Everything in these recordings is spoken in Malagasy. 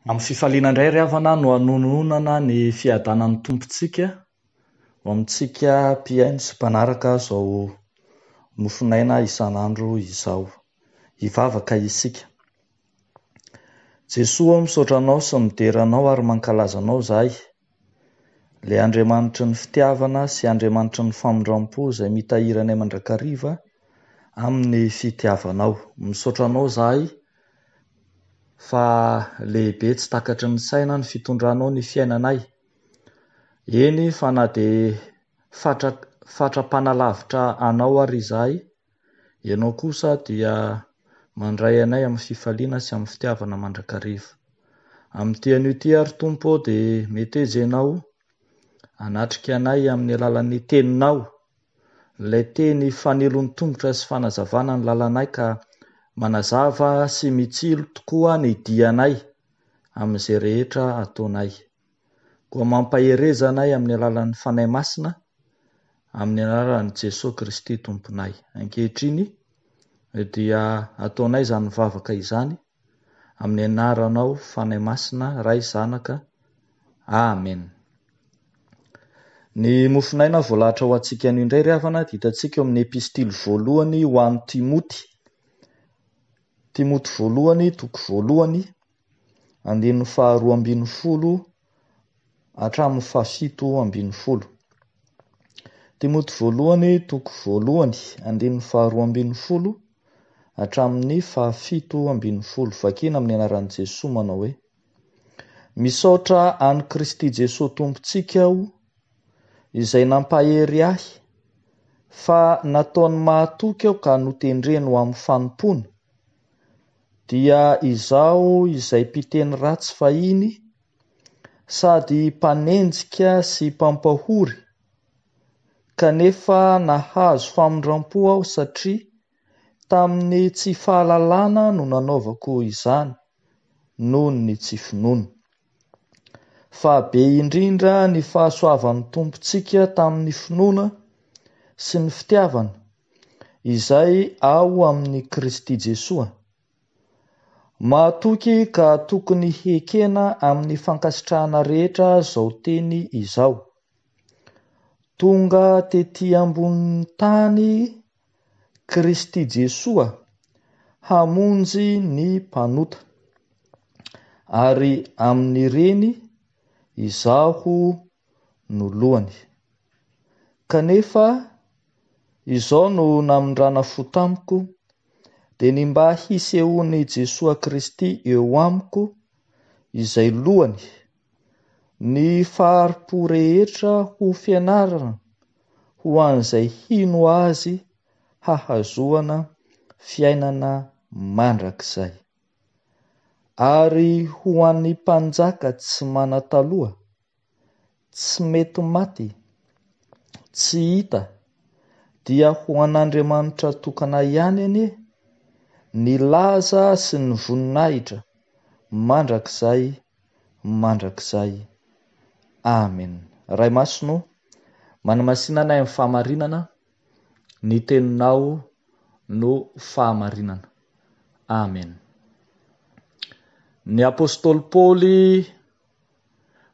Amin'ny fifaliana indray ry havana no hanononana ny fiadanan'ny Tompontsika ho amintsika mpihaino sy mpanaraka izao mofonaina isan'andro izao. Hivavaka isika. Jesoa ô misaotra Anao sy midera Anao ary mankalaza Anao izahay. Ilay Andriamanitry ny fitiavana sy Andriamanitry ny famindrampo izay mitahiry anay mandrakariva amin'ny fitiavanao. Misaotra anao izahay fa lehibe tsy takatry ny saina ny fitondranao ny fiainanay, eny fa na dia fatra fatra-panalavitra anao ary izahay, Ianao kosa dia mandray anay amin'ny fifaliana sy amin'ny fitiavana mandrakariva. Amin'ity anio ity àry, Tompo ô, dia meteza Ianao hanatrika anay amin'ny alalan'ny Teninao, ilay Teny fanilon-tongotra sy fanazavana ny lalanay ka manazava sy mitsilo tokoa ny dianay amin'izay rehetra ataonay. Koa mampahereza anay amin'ny alalan'ny Fanahy Masina, amin'ny anaran'i Jesoa Kristy Tomponay. Ankehitriny dia ataonay izany vavaka izany amin'ny anaranao Fanahy Masina, Ray, Zanaka. Amen. Ny mofon'aina voalahatra ho antsika anio indray ry havana dia hitantsika eo amin'ny epistily voalohany ho an'i Timoty. Timoty voalohany, toko voalohany, andininy faharoa ambin'ny folo hatramin'ny fahafito ambin'ny folo. Timoty voalohany toko voalohany andininy faharoa ambin'ny folo hatramin'ny fahafito ambin'ny folo. Vakina amin'ny anaran'i Jesoa manao hoe, Misaotra an'i Kristy Jesoa Tompontsika aho izay nampahery ahy fa nataony mahatoky aho ka notendreny ho amin'ny fanompoana, Dia izaho izay mpiteny ratsy fahiny, sady mpanenjika sy mpampahory, kanefa nahazo famindram-po aho satria tamin'ny tsy fahalalana no nanaovako izany, noho ny tsy finoana. Fa be indrindra ny fahasoavan'ny Tompontsika tamin'ny finoana sy ny fitiavana izay ao amin'i Kristy Jesoa. Mahatoky ka tokony hekena amin'ny fankasitrahana rehetra izao teny izao. Tonga tety ambonin'ny tany Kristy Jesoa hamonjy ny mpanota, ary amin'ireny izaho no lohany. Kanefa izao no namindrana fo tamiko, dia ny mba hisehoan'i Jesoa Kristy eo amiko, izay lohany, Ny fahari-po rehetra ho fianarana ho an'izay hino Azy hahazoana fiainana mandrakizay. Ary ho an'ny mpanjaka tsy manan-taloha, tsy mety maty, tsy hita, dia ho an'Andriamanitra tokana ihany anie ny laza sy ny voninahitra mandrakizay. mandrakizay. Amen. Ray Masina o, manamasina anay amin'ny fahamarinana, ny Teninao no fahamarinana. Amen. Ny Apostoly Paoly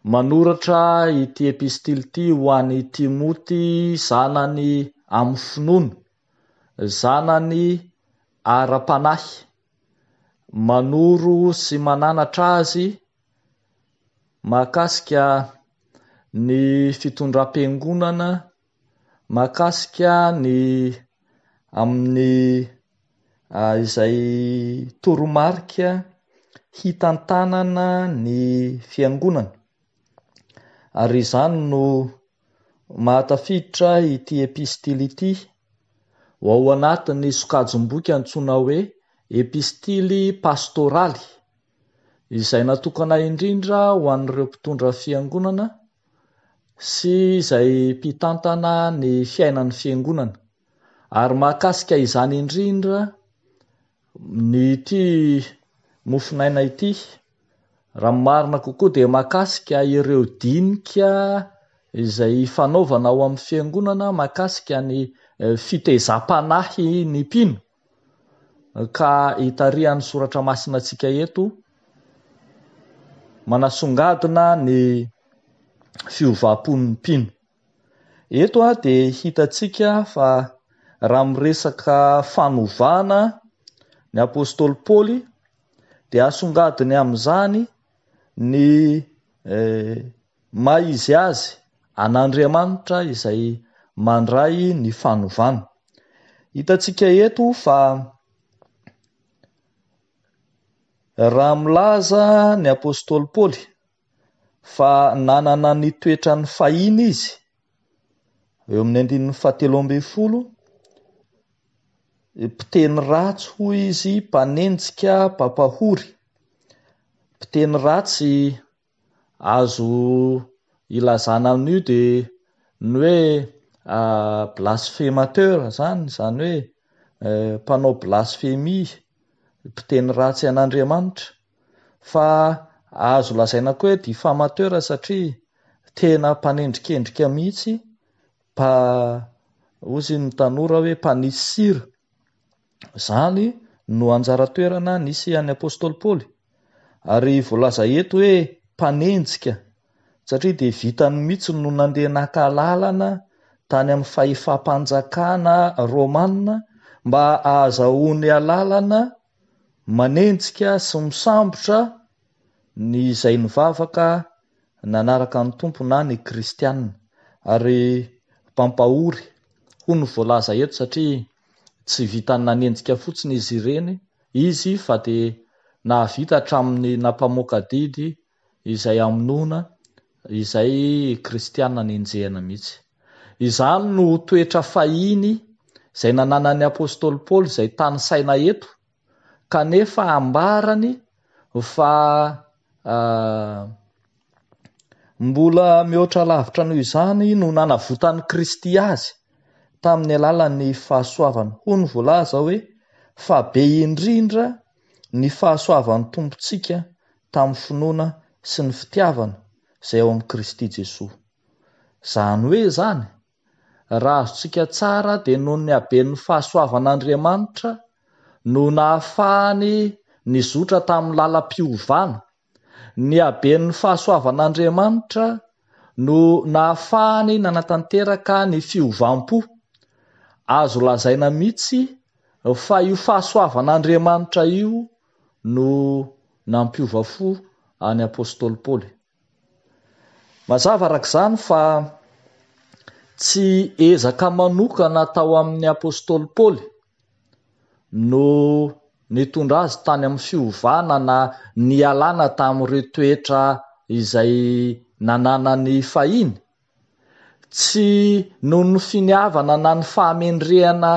manoratra ity epistily ity ho an'i Timoty zanany amin'ny finoana, zanany ara-panahy. manoro sy mananatra azy mahakasika ny fitondram-piangonana, mahakasika ny amin'ny izay toromarika hitantanana ny fiangonana ary izany no Mahatafiditra ity epistily ity ho ao anatin'ny sokajim-boky antsoina hoe Epistily Pastoraly, izay natokana indrindra ho an'ireo mpitondra fiangonana sy izay mpitantana ny fiainan'ny fiangonana, ary mahakasika izany indrindra ity mofonaina ity. Raha ny marina kokoa dia mahakasika ireo dinika izay ifanaovana ao amin'ny fiangonana mahakasika ny fitezam-panahy ny mpino ka itarihan'ny soratra masina antsika eto manasongadina ny fiovam-pon'ny mpino. Eto dia hitantsika fa raha miresaka fanovana ny apostoly Paoly dia asongadiny amin'izany ny maha izy azy an'Andriamanitra izay mandray ny fanovana. Hitantsika eto fa raha milaza ny apostoly Paoly. fa nanana ny toetrany fahiny izy, eo amin'ny andininy fahatelo ambin'ny folo, mpiteny ratsy hoy izy, mpanenjika, mpampahory, mpiteny ratsy, azo ilazana amin'io dia ny hoe blasphemateur izany, izany hoe mpanao blasphemie, mpiteny ratsy an'Andriamanitra. Fa azo lazaina koa hoe diffamateur satria tena mpanendrikendrika mihitsy mpa hozy ny tanora hoe mpanisy sira. Izany no anjara toerana nisy an'i Apostoly Paoly. Ary voalaza eto hoe mpanenjika satria dia vitany mihitsy no nandeha naka alalana tany amin'ny fahefam-panjakana romana mba ahazahoany alalana Manenjika sy misambotra ny izay nivavaka nanaraka ny Tompo na ny kristiana, ary mpampahory, hoy ny voalaza eto, satria tsy vitan'ny nanenjika fotsiny izy ireny izy fa dia nahavita hatramin'ny nampamoaka didy izay hamonoana izay kristiana nenjehina mihitsy. Izany no toetra fahiny izay nananan'ny apostoly Paoly izay tanisaina eto, kanefa ambarany fa mbola mihoatra lavitra noho izany no nanavotan'i Kristy azy tamin'ny alalan'ny fahasoavany. Hono voalaza hoe, Fa be indrindra ny fahasoavan'ny Tompontsika tamin'ny finoana sy ny fitiavana izay ao amin'i Kristy Jesoa. Izany hoe izany, raha azontsika tsara dia noho ny haben'ny fahasoavan'Andriamanitra no nahafahany nizotra tamin'ny lalam-piovana, ny haben'ny fahasoavan'Andriamanitra no nahafahany nanatanteraka ny fiovam-po. Azo lazaina mihitsy fa io fahasoavan'Andriamanitra io no nampiova fo an'i apostoly Paoly. Mazava araka izany fa tsy ezaka manokana atao amin'i apostoly Paoly no nitondra azy tany amin'ny fiovana na nialana tamin'ireo toetra izay nananany fahiny. Tsy noho ny finiavana na ny fahamendrehana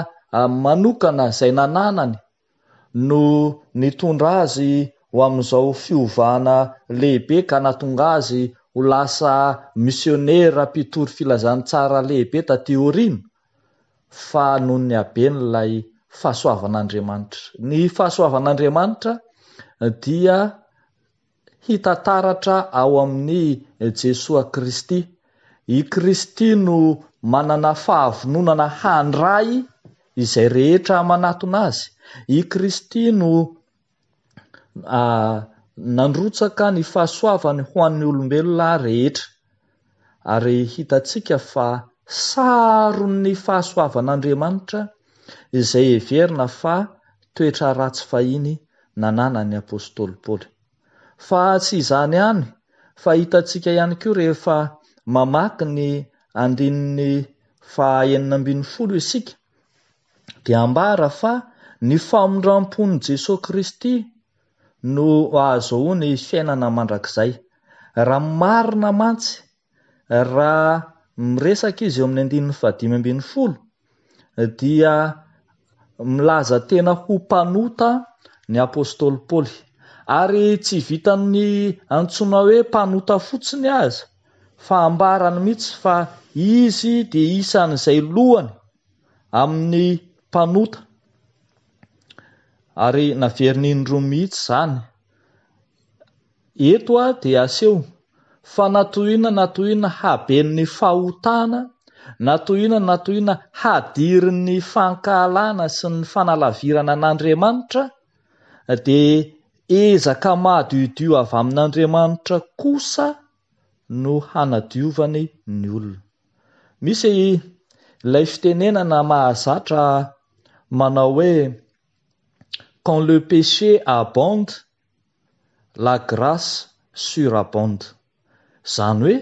manokana izay nananany no nitondra azy ho amin'izao fiovana lehibe ka nahatonga azy ho lasa misionera mpitory filazantsara lehibe taty aoriana fa noho ny haben'ilay fahasoavan'Andriamanitra. Ny fahasoavan'Andriamanitra dia Hita taratra ao amin'i Jesoa Kristy. I Kristy no manana fahavononana handray izay rehetra manatona Azy. I Kristy no nandrotsaka ny fahasoavany ho an'ny olombelona rehetra. ary hitantsika fa saron'ny fahasoavan'Andriamanitra izay heverina fa toetra ratsy fahiny nananan'ny apostoly Paoly. Fa tsy izany ihany fa hitantsika ihany koa rehefa mamaky ny andininy faha enina ambin'ny folo isika dia ambara fa ny famindrampon'i Jesoa Kristy no ahazoany ny fiainana mandrakizay. Raha marina mantsy raha miresaka izy eo amin'ny andininy fahadimy ambin'ny folo dia milaza tena ho mpanota ny apostoly Paoly. Ary tsy vitan'ny antsoina hoe mpanota fotsiny aza fa ambarany mihitsy fa izy dia isan'izay lohany amin'ny mpanota. Ary naveriny indroa mihitsy izany. Eto dia aseho fa na tohina na tohina haben'ny fahotana, na tohina na tohina hadirin'ny fankahalana sy ny fanalavirana an'Andriamanitra, dia ezaka madiodio avy amin'Andriamanitra kosa, no hanadiovany ny olona. Misy ilay fitenenana mahazatra manao hoe quand le péché abonde, la grace surabonde. Izany hoe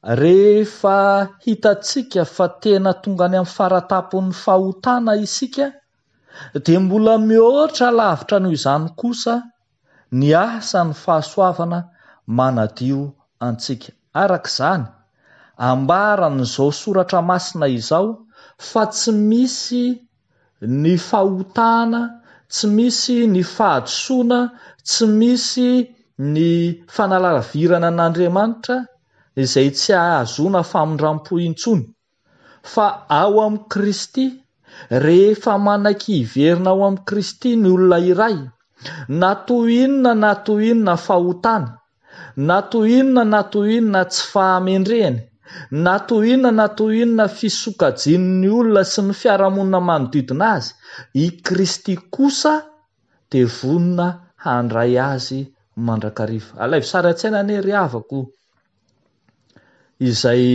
rehefa hitantsika fa tena tonga any amin'ny fara-tampon'ny fahotana isika dia mbola mihoatra lavitra noho izany kosa ny asa ny fahasoavana manadio antsika. Araka izany, ambaran'izao soratra masina izao fa tsy misy ny fahotana, tsy misy ny fahadisoana, tsy misy ny fanalavirana an'Andriamanitra izay tsy ahazoana famindram-po intsony. Fa ao amin'i Kristy, rehefa manan-kiverina ao amin'i Kristy ny olona iray, na toy inona na toy inona fahotany, na toy inona na toy inona tsy fahamendrehany, na toy inona na toy inona fisokajian'ny olona sy ny fiarahamonina manodidina azy, i Kristy kosa dia vonona handray azy mandrakariva. Alaivo sary an-tsaina anie ry havako o! izay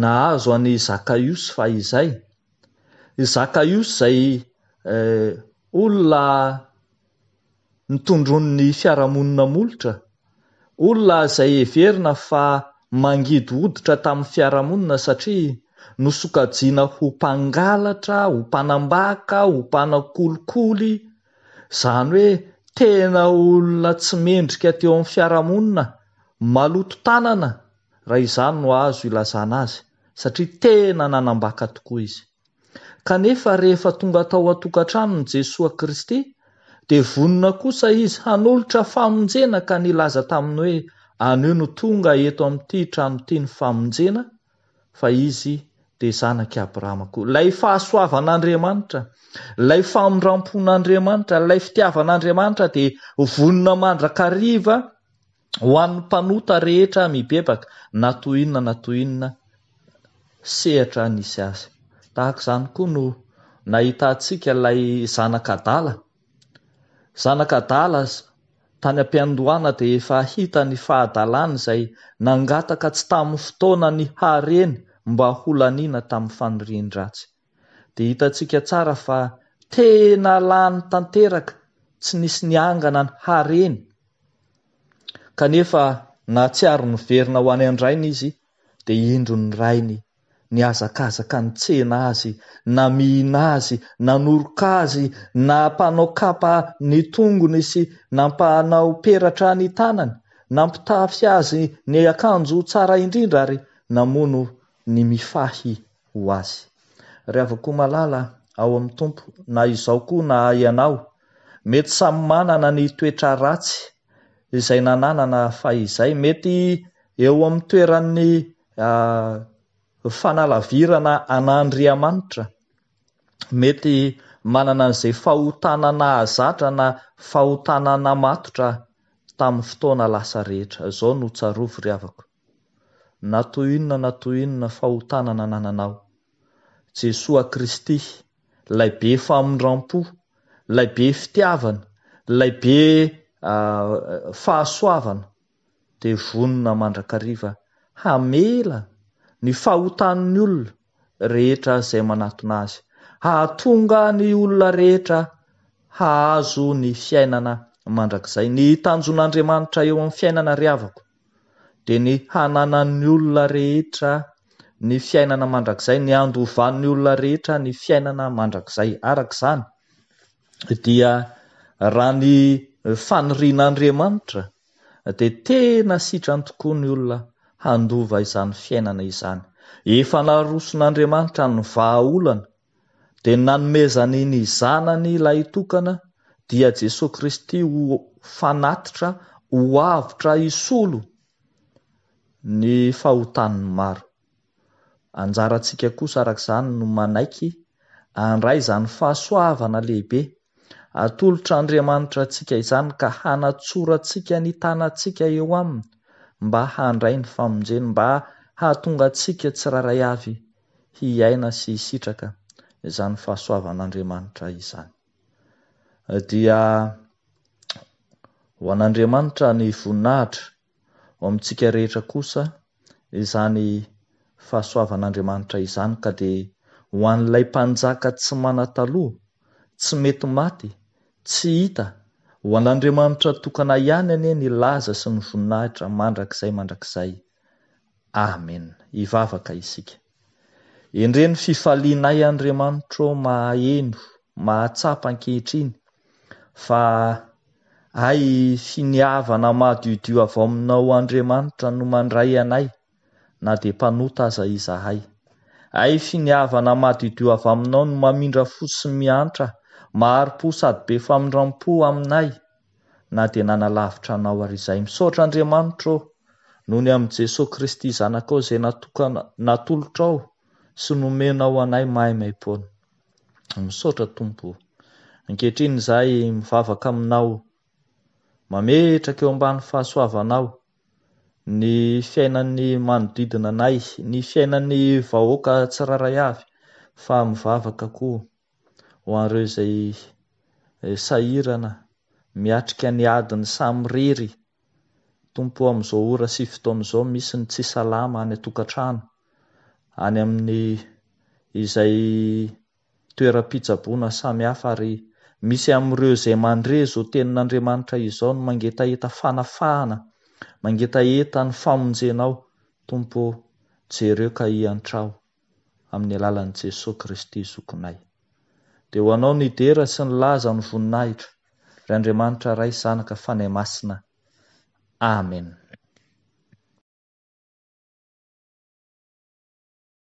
nahazo an'i Zakaiosy fahizay. I Zakaiosy izay olona nitondroin'ny fiarahamonina molotra, olona izay heverina fa mangidy hoditra tamin'ny fiarahamonina satria nosokajiana ho mpangalatra, ho mpanambaka, ho mpanakolikoly. Izany hoe tena olona tsy mendrika teo amin'ny fiarahamonina, maloto tanana raha izany no azo ilazana azy satria tena nanambaka tokoa izy. Kanefa rehefa tonga tao an-tokantranon'i Jesoa Kristy dia vonona kosa izy hanolotra famonjena ka nilaza taminy hoe anio no tonga eto amin'ity trano ity ny famonjena fa izy dia zanak'i Abrahama koa. Ilay fahasoavan'Andriamanitra, ilay famindram-pon'Andriamanitra, ilay fitiavan'Andriamanitra dia vonona mandrakariva ho an'ny mpanota rehetra mibebaka na toy inona na toy inona sehatra nisy azy. Tahaka izany koa no nahitantsika ilay zanak'adala Zanaka adala aza tany am-piandohana dia efa hita ny fahadalany izay nangataka tsy tamin'ny fotoana ny hareny mba ho laniana tamin'ny fanirian-dratsy. Dia hitantsika tsara fa tena lany tanteraka tsy nisy niangana ny hareny kanefa nahatsiaro niverina ho any an-drainy izy dia indro ny rainy nihazakazaka nitsena azy, namihina azy, nanoroka azy, nampanao kapa ny tongony sy nampanao peratra ny tanany, nampitafy azy ny akanjo tsara indrindra ary namono ny mifahy ho azy. Ry havako malala ao amin'ny Tompo, na izaho koa na ianao, mety samy manana ny toetra ratsy izay nananana fahizay, mety eo amin'ny toeran'ny. A Fanalavirana an'Andriamanitra, mety manana an'izay fahotana nahazatra na fahotana namatotra tamin'ny fotoana lasa rehetra. Izao no tsarovy ry havako, na toy inona na toy inona fahotana nanananao, Jesoa Kristy, Ilay be famindram-po, Ilay be fitiavana, Ilay be fahasoavana, dia vonona mandrakariva hamela ny fahotan'ny olona rehetra izay manatona azy, hahatonga ny olona rehetra hahazo ny fiainana mandrakizay. Ny tanjon'Andriamanitra eo amin'ny fiainana ry havako dia ny hananan'ny olona rehetra ny fiainana mandrakizay, ny handovan'ny olona rehetra ny fiainana mandrakizay. Araka izany dia raha ny fanirian'Andriamanitra dia tena sitrany tokoa ny olona handova izany fiainana izany. Efa naroson'Andriamanitra ny vahaolana, dia nanomezany ny Zanany lahitokana, dia Jesoa Kristy ho fanatitra, ho avotra hisolo ny fahotan'ny maro. Anjarantsika kosa araka izany no manaiky handray izany fahasoavana lehibe atolotr' Andriamanitra antsika izany ka hanatsorantsika ny tanantsika eo Aminy mba handray ny famonjeny mba hahatonga antsika tsirairay avy hiaina sy hisitraka izany fahasoavan' Andriamanitra izany. Dia ho an' Andriamanitra ny voninahitra. Ho amintsika rehetra kosa izany fahasoavan'Andriamanitra izany ka dia ho an'ilay Mpanjaka tsy manan-taloha, tsy mety maty, tsy hita, ho an'Andriamanitra tokana ihany anie ny laza sy ny voninahitra mandrakizay mandrakizay. Amen! Hivavaka isika. Endreno fifalianay Andriamanitro mahaheno, mahatsapa ankehitriny fa hay finiavana madiodio avy aminao Andriamanitra no mandray anay na dia mpanota aza izahay. Hay finiavana madiodio avy aminao no mamindra fo sy miantra, mahari-po sady be famindram-po aminay na dia nanalavitra anao ary izay. Misaotra Andriamanitra ô, noho ny amin'i Jesoa Kristy Zanakao izay natokana, natolotrao sy nomenao anay maimaim-poana. Misaotra Tompo ô. Ankehitriny izahay mivavaka aminao, mametraka eo ambany fahasoavanao ny fiainan'ny manodidina anay, ny fiainan'ny vahoaka tsirairay avy, fa mivavaka koa ho an'ireo izay sahirana miatrika ny adiny samirery Tompo o amin'izao ora sy fotoana izao misy ny tsy salama any an-tokantrano, any amin'ny izay toeram-pitsaboana samihafa ary misy amin'ireo izay mandre izao tenin'Andriamanitra izao ny mangetaheta fanafahana, mangetaheta ny famonjenao Tompo o, jereo ka hiantraho. amin'ny alalan'i Jesoa Kristy Zokinay. Dia ho Anao ny dera sy ny laza ny voninahitra, ry Andriamanitra Ray, Zanaka, Fanahy Masina. Amen.